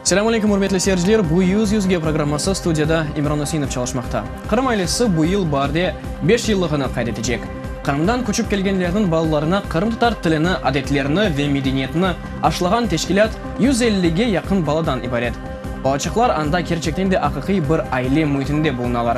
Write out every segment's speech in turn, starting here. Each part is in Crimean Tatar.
Selam aleyküm, ürmetli seyirciler! Bu Yüz Yüzge programması studiyada İmran Üseinov çalışmaqta. Qırım ailesi bu yıl barde beş yıllığını qayd etecek. Qırımdan köçip kelgenlerniñ balalarına qırımtatar tilini, adetlerini ve medeniyetini aşlağan teşkilât yüz ellige yaqın baladan ibaret. Balaçıqlar anda kerçekten de aqiqiy bir aile müitinde bulunalar.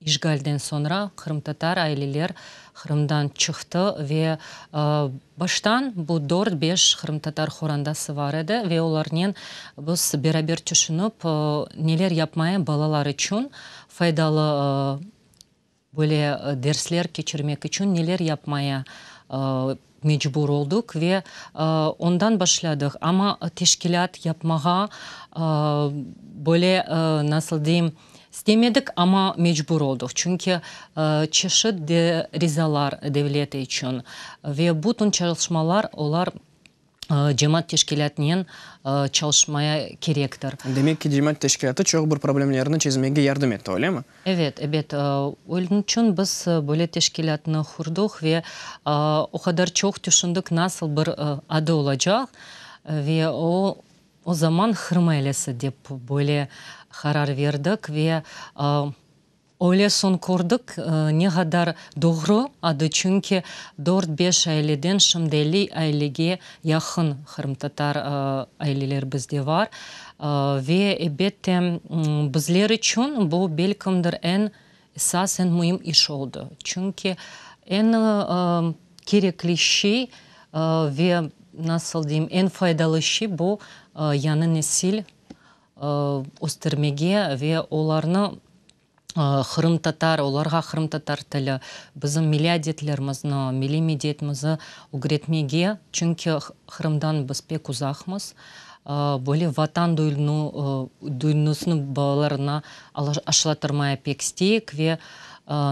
İşğalden soñra qırımtatar aileler Qırımdan çıqtı ve baştan bu dört-beş qırımtatar qorandası bar edi ve olarnen biz beraber tüşünip neler yapmaya balalar içün faydalı böyle dersler keçirmek içün neler yapmaya mecbur oldıq ve ondan başladıq. Amma teşkilât yapmağa böyle, nasıl deyim, istemedik, amma mecbur oldıq. Çünki çeşit de rizalar devlet içün ve bütün çalışmalar olar cemaat teşkilâtınen çalışmaya kerektir. Demek ki, cemaat teşkilâtı çoq bir problemlerni çezmege yardım etti, öylemi? Ebet, ebet, ölniçün biz böyle teşkilâtnı qurduq ve o qadar çoq tüşündik nasıl bir adı olacaq. Ve o o zaman Qırım ailesi dep böyle qarar verdik ve öyle soñ kördik ne qadar doğru adı, çünki dört-beş aileden şimdi elli ailege yaqın qırımtatar aileler bizde var. Ve, ebette, bizler içün bu, belkimdir, eñ esas, eñ müim iş oldı. Çünki eñ kerekli şey ve, nasıl deyim, eñ faydalı şey, bu, yañı nesil östermege ve olarnı qırımtatar, olarğa qırımtatar tili, bizim milliy adetlerimizni, milliy mediyetimizi ögretmege, çünki Qırımdan biz pek uzaqmız, böyle vatan duyunusını balalarına aşılatırmaya pek isteyik ve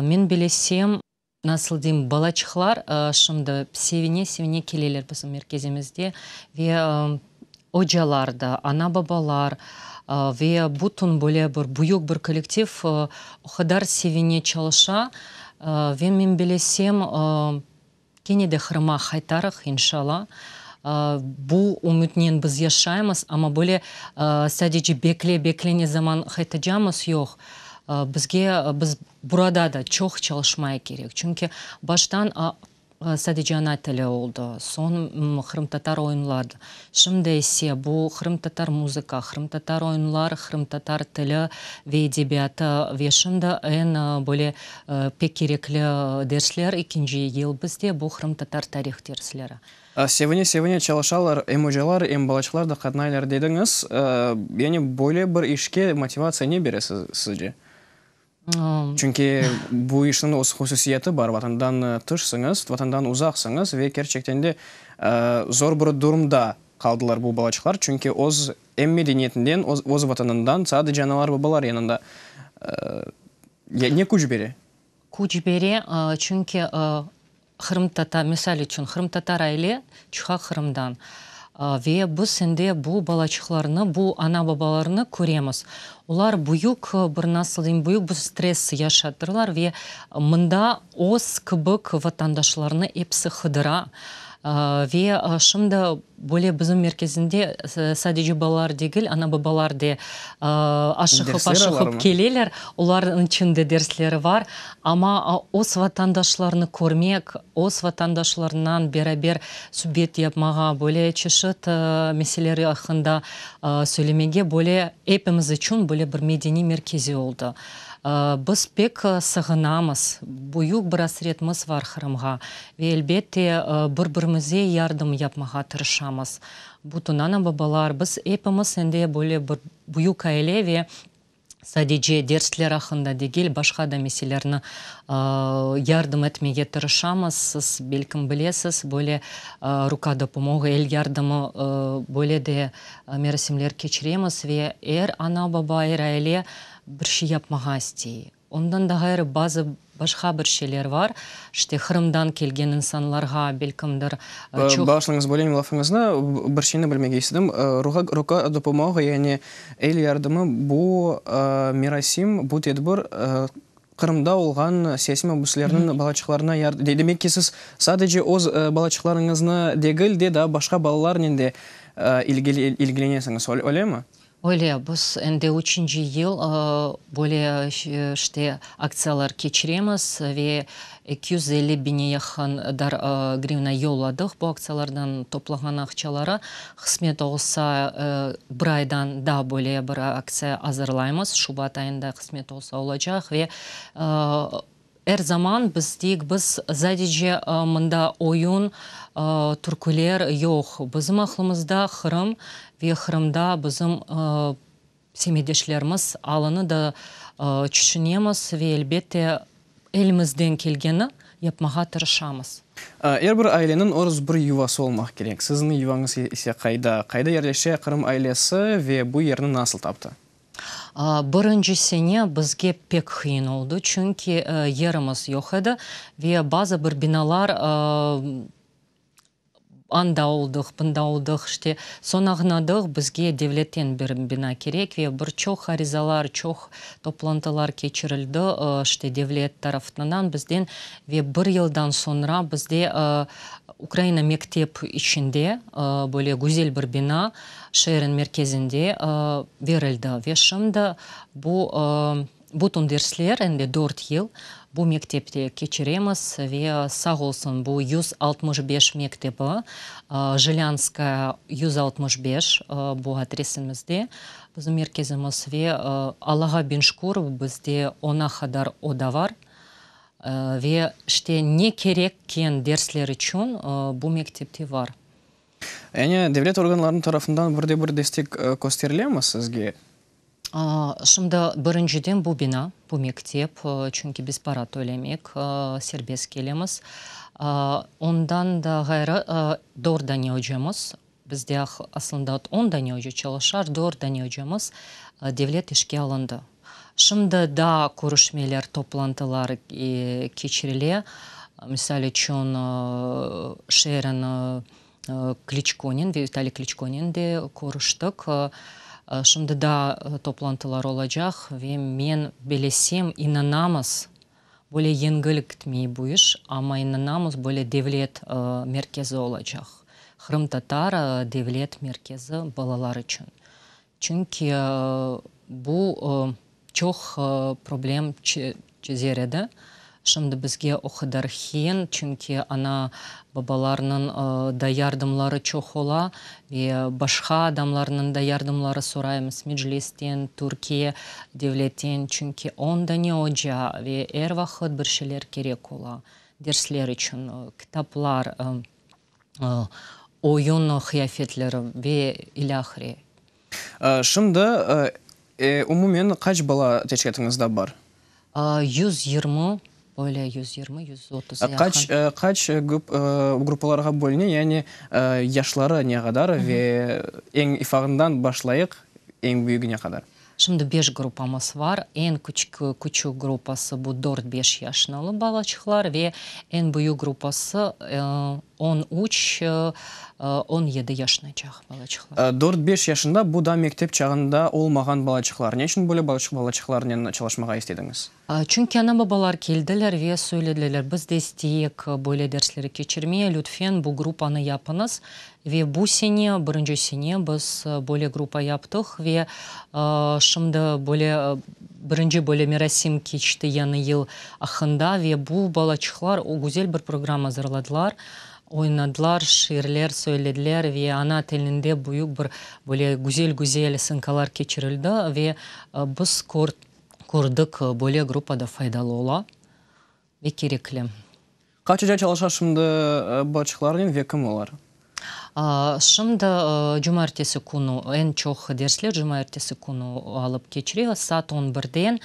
men bilesem, nasıl deyim, balaçıqlar şimdi sevine-sevine keleler bizim merkezimizde ve ocalar da, ana-babalar ve bütün böyle bir büyük bir kollektiv o qadar sevine çalışa ve men bilesem, kene de Qırım'a qaytarıq, inşalla. Bu ümütnen biz yaşaymız, amma böyle sadece bekle-bekle ne zaman qaytacamız, yoq. Bizge, biz burada da çoq çalışmaya kerek, çünki baştan sadece ana tili oldı, soñ qırımtatar oyunlar, şimdi ise bu qırımtatar muzıka, qırımtatar oyunlar, qırımtatar tili ve edebiyatı ve şimdi eñ böyle pek kerekli dersler, ekinci yıl bizde, bu qırımtatar tarih dersleri. Sevine-sevine çalışalar, em ocalar, em balaçıqlar da qatnaylar dediñiz. Yani böyle bir işke motivatsiya ne bere sizce? Çünki bu işniñ öz hususiyeti bar, Vatandan tışsıñız, Vatandan uzaqsıñız ve kerçekten de zor bir durumda qaldılar bu balaçıqlar, çünki öz em medeniyetinden, öz Vatanından, sadece analar-babalar yanında. Ne küç bere? Küç bere, çünki qırımtatar, misal içün, qırımtatar aile çıqa Qırımdan. Ve biz endi bu balaçıqlarnı, bu ana-babalarnı köremiz. Olar büyük bir, nasıl deyim, büyük bir stress yaşattırlar ve mında öz kibik vatandaşlarını episi qıdıra. Ve şimdi Böyle bizim merkezinde sadece balalar degil, ana-babalar de aşıqıp-aşıqıp keleler, olarnıñ içün de dersleri bar. Amma öz vatandaşlarını körmek, öz vatandaşlarınan beraber subet yapmağa, böyle çeşit meseleler aqqında söylemege, böyle, epimiz içün böyle bir medeniy merkezi oldı. Biz pek sığınamız, büyük bir asretmiz var Qırımğa ve elbette bir-birimize yardım yapmağa tırışamız. Bütün ana-babalar, biz epimiz endi böyle bir büyük aile ve sadece dersler aqqında degil, başqa da meselerni yardım etmege tırışamız. Siz belkim bilesiz, böyle ruka da pomog, el yardımı, böyle de merasimler keçiremiz ve er ana-baba, er aile, Bir şey yapmağa istey. Ondan da ğayrı bazı başqa bir şeyler var, işte Qırımdan kelgen insanlarğa belkimdir çoq. Bağışlañız, böleyim lafıñıznı, bir şeyni bilmege istedim. Ruğa, ruka dopumoğa, yani el yardımı bu merasim, bu tedbir Qırımda olğan siyasiy mabüslerniñ balaçıqlarına yard-, demek ki, siz sadece öz balaçıqlarıñıznı degil de, daa başqa balalarnen de ilgili, ilgilenesiñiz, öylemi? Öyle, biz endi üçünci yıl böyle işte aktsiyalar keçiremiz ve eki yüz elli biñe yaqın grivna yolladıq. Bu aktsiyalardan toplağan aqçaları, qısmet olsa, bir aydan daa böyle bir aktsiya azırlaymız, şubat ayında qısmet olsa olacaq ve Er zaman biz deyik, biz zadece mında oyun, türküler yoq, bizim aqlımızda Qırım ve Qırımda bizim semetdeşlerimiz alını da çüşünemiz ve elbette elimizden kelgeni yapmağa tırışamız. Er bir aileniñ öz bir yuvası olmaq kerek. Siziñ yuvañız ise qayda? Qayda yerleşe Qırım ailesi ve bu yerni nasıl taptı? Birinci sene bizge pek qıyın oldı, çünki yerimiz yoq edi ve bazı bir binalar anda oldıq, bunda oldıq, işte, soñ añladıq, bizge devletten bir bina kerek ve bir çoq arizalar, çoq toplantılar keçirildi, işte, devlet tarafından bizden ve bir yıldan soñra bizde Ukraina mektep içinde böyle güzel bir bina, şeerin merkezinde berildi ve şimdi bu bütün dersler, em de dört yıl bu mektepte keçiremiz ve sağ olsun bu yüz altmış beş mektebi, Jilânskaya yüz altmış beş, bu adresimizde bizim merkezimiz ve Allağa biñ şükür, bizde ona qadar oda var ve işte ne kerekken dersler içün bu mektepte var. Yani devlet organlarınıñ tarafından bir de bir destek kösterilemmi sizge? Şimdi birinciden bu bina, bu mektep, çünki biz para tölemek, serbest kelemiz. Ondan da ğayrı dört dane öcemiz, bizde aslında on dane öce çalışar, dört dane öcemiz devlet işke alındı. Şimdi daa körüşmeler, toplantılar keçirile. Misal içün, şeerin Kliçkonen ve Vitaliy Kliçkonen de körüştik. Şimdi daa toplantılar olacaq ve men bilesem, inanamız, böyle yengil gitmey bu iş, amma inanamız, böyle devlet merkezi olacaq, qırımtatar devlet merkezi balalar içün. Çünki bu çoq problem çezer edi. Şimdi bizge o qadar hiin, çünki ana, babalarnıñ da yardımları çoq ola ve başqa adamlarnıñ da yardımları soraymız, Meclisten, Türkiye devletten, çünki on dane oca ve er vaqıt bir şeyler kerek ola, dersler içün, kitaplar, oyun qıyafetleri ve ilâhre. Şimdi, umumen qaç bala teşkilâtıñızda bar? Yüz yirmi, böyle yüz yirmi, yüz otuz yaqın. Qaç, qaç gruppalarğa bölüne, yani yaşları ne qadar ve eñ ifağından başlayıq, eñ büyügine qadar? Şimdi beş gruppamız var. Eñ küçük gruppası bu dört-beş yaşnılı balaçıqlar ve eñ büyük gruppası on üç, on yedi yaşnıcaq balaçıqlar. Dört-beş yaşında bu da mektep çağında olmağan balaçıqlar. Ne içün böyle balaçıqlarnen çalışmağa istediñiz? Çünki ana-babalar keldiler ve söylediler, biz de isteyek böyle dersleri keçirmeye, lütfen bu gruppanı yapıñız. Ve bu sene, birinci sene biz böyle gruppa yaptıq ve şimdi böyle birinci böyle merasim keçti Yañı yıl aqqında ve bu balaçıqlar o güzel bir programma azırladılar, oynadılar, şiirler söylediler ve ana tilinde büyük bir böyle güzel-güzel sınkalar keçirildi ve biz kördik. kördik, böyle gruppa da faydalı ola ve kerekli. Qaçıca çalışa şimdi bıçıqlarnen ve kim olar? Şimdi cumartesi künü, eñ çoq dersler cumartesi künü alıp keçire, saat on birden.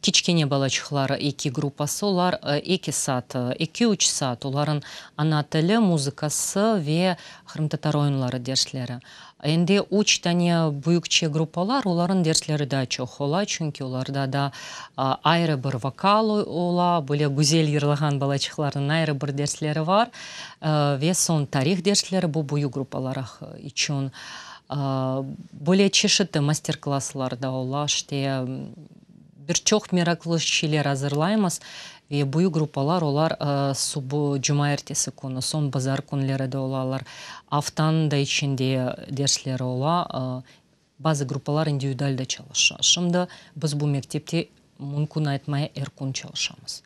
Kiçkene balaçıqlar eki gruppası, olar eki saat, eki-üç saat, olarnıñ ana tili, muzıkası ve qırımtatar oyunları dersleri. Endi üç dane büyükçe gruppalar, olarnıñ dersleri daa çoq ola, çünki olarda da ayrı bir vokal ola, böyle güzel yırlağan balaçıqlarnıñ ayrı bir dersleri bar. Ve soñ tarih dersleri, bu büyük gruppalaraq içün. Böyle çeşitli master-klasslar da ola, işte. Bir çoq meraqlı şeyler azırlaymız ve büyük gruppalar olar subu cuma ertesi künü, soñ bazar künleri de olalar. Aftanıñ da içinde dersleri ola. Bazı gruppalar individual da çalışa. Şimdi biz bu mektepte mümkün aytmay er kün çalışamız.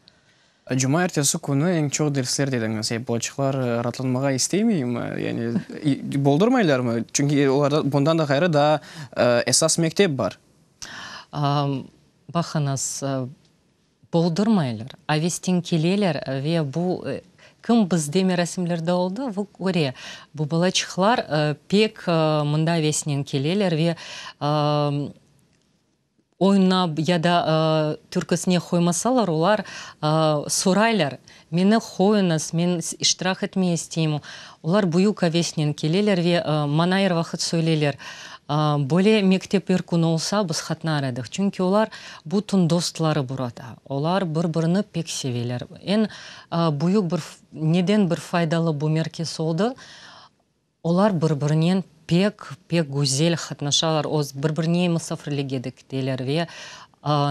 Cuma ertesi künü eñ çoq dersler dediñiz. Ya balaçıqlar raatlanmağa isteymeymi? Yani boldurmaylarmı? Çünki olarda bundan da ğayrı daa esas mektep bar. Baqıñız, boldurmaylar, avestin keleler ve bu kim bizde merasimlerde oldı, o köre. Bu balaçıqlar pek mında avesinen keleler ve Oynap ya da türküsine qoymasalar, olar soraylar, meni qoyuñız, men iştirak etmey isteyim. Olar büyük avesnen keleler ve maña er vaqıt söyleyler. Böyle mektep er kün olsa, biz qatnar edik. Çünki olar bütün dostları burada. Olar bir-birini pek seveler. Eñ büyük bir, neden bir faydalı bu merkez oldı? Olar bir-birinen pek, pek güzel qatnaşalar, öz bir-birine musafirlige de kiteler ve,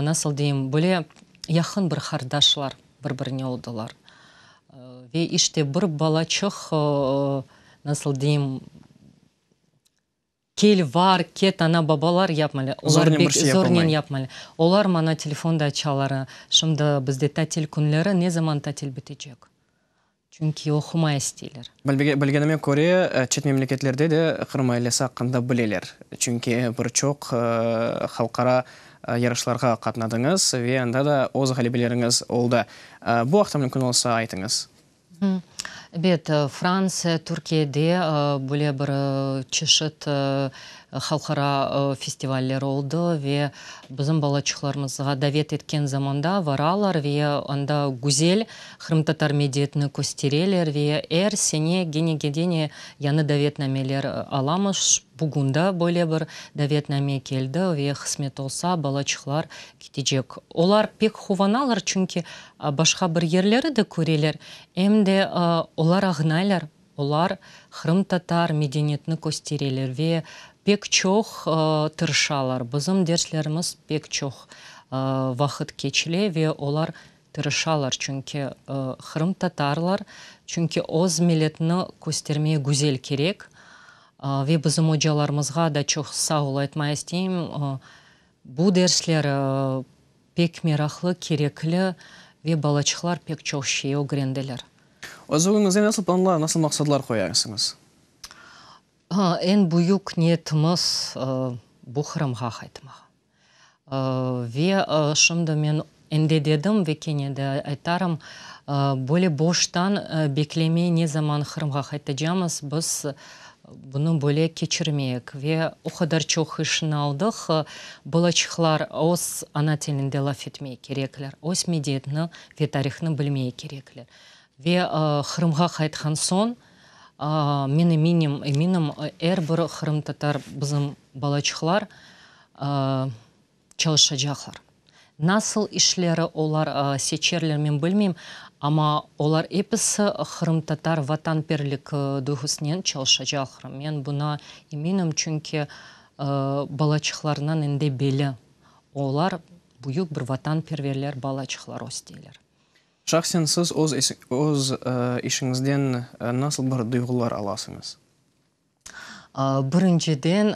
nasıl deyim, böyle yaqın bir qardaşlar bir-birine oldılar. Ve işte bir balaçıq, nasıl deyim, kel var, ket ana-babalar yapmalı, olar bek zornen yapmalı. Olar maña telefonda aytışalar, şimdi bizde tatil künleri, ne zaman tatil bitecek? Çünki oqumay isteyler. Bilgenime köre, çet memleketlerde de Qırım ailesi aqqında bileler. Çünki bir çoq halqara yarışlarğa qatnadıñız ve anda da öz ğalebeleriñiz oldı. Bu aqta mümkün olsa aytıñız. Ebet, Fransiya, Türkiyede böyle bir çeşit Halqara festivaller oldı ve bizim balaçıqlarımızğa davet etken zamanda varalar ve anda güzel qırımtatar mediyetini köstereler ve er sene gene gene yañı davetnameler alamız. Bugün da böyle bir davetname keldi ve qısmet olsa balaçıqlar ketecek. Olar pek quvanalar, çünki başqa bir yerleri de köreler, em de olar añaylar. Olar qırımtatar medeniyetini köstereler ve pek çoq tırışalar. Bizim derslerimiz pek çoq vaqıt keçile ve olar tırışalar, çünki qırımtatarlar, çünki öz milletni köstermeye güzel kerek. Ve bizim ocalarımızğa da çoq sağ ol aytmaya isteyim. Bu dersler pek meraqlı, kerekli ve balaçıqlar pek çoq şey ögrendiler. Özüñizge nasıl planlar, nasıl maqsadlar qoyarsıñız? Eñ büyük niyetimiz, bu Qırımğa qaytmaq. Ve şimdi men Endi dedim ve kene de aytarım, böyle boştan beklemey ne zaman Qırımğa qaytacamız, biz bunı böyle keçirmeyik. Ve o qadar çoq işni aldıq, balaçıqlar öz ana tilinde laf etmey kerekler, öz mediyetni ve tarihni bilmey kerekler. Ve Qırımğa qaytqan soñ, men eminim, eminim, er bir qırımtatar bizim balaçıqlar çalışacaqlar. Nasıl işleri olar seçerler, men bilmeyim, amma olar episi qırımtatar vatanperlik duyğusınen çalışacaqlar. Men buna eminim, çünki balaçıqlarından indi belli, olar büyük bir vatanperverler balaçıqlar östeyler. Şahsen siz öz işiñizden nasıl bir duyğular alasıñız? Birinciden,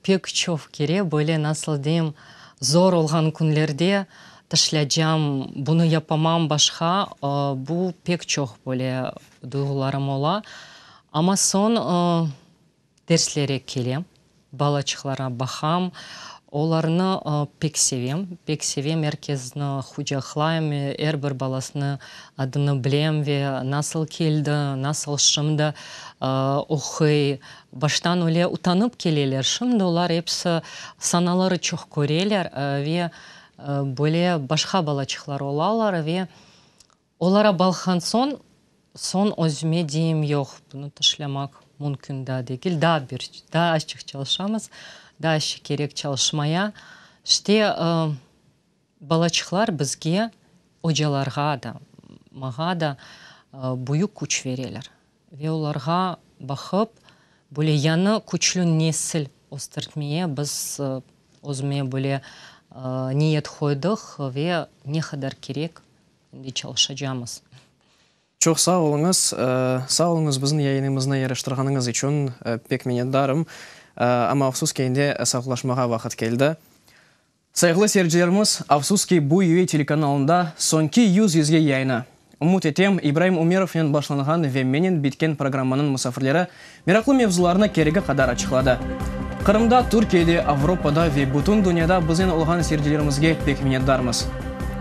pek çoq kere böyle, nasıl deyim, zor olğan künlerde tışlâcam, bunı yapamam, başqa, bu pek çoq böyle duyğularım ola. Amma soñ derslere kelem, balaçıqlarğa baqam, olarnı pek sevem, pek sevem, er kesni qucaqlayım, er bir balasını Adını bilem ve nasıl keldi, nasıl şimdi oquy, baştan öyle utanıp keleler, şimdi olar episi sanaları çoq köreler ve böyle başqa balaçıqlar olalar ve olara balqan soñ, soñ özüme deyim, yoq, bunı tışlamaq mümkün daa degil, daa bir, daa açıq çalışamız, daa işi kerek çalışmaya, işte. Balaçıqlar bizge, ocalarğa da, mağa da büyük küç bereler. Ve olarğa baqıp, böyle yañı küçlü nesil östertmeye biz özüme böyle niyet qoydıq ve ne qadar kerek, şimdi çalışacamız. Çoq sağ oluñız. Sağ oluñız biziñ yayınımıznı yaraştırğanıñız içün pek minnetdarım. Amma afsus ki, endi sağlaşmağa vaqıt keldi. Sayğılı seyircilerimiz, afsus ki, bu UA telekanalında soñki yüz yüzge yayını, ümüt etem, İbraim Ümerovnen başlanğan ve menen bitken programmanıñ musafirleri meraqlı mevzularnı keregi qadar açıqladı. Qırımda, Türkiyede, Avropada ve bütün dünyada biznen olğan seyircilerimizge pek minnetdarmız.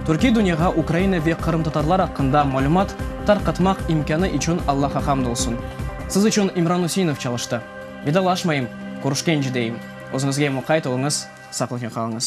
Türkiy dünyağa Ukraina ve qırımtatarlar aqqında malümat tarqatmaq imkânı içün Allaha hamd olsun. Siz içün İmran Üseinov çalıştı. Vidalaşmayım, körüşkence deyim. Özüñizge muqayt oluñız. Saqlıqnen qalıñız.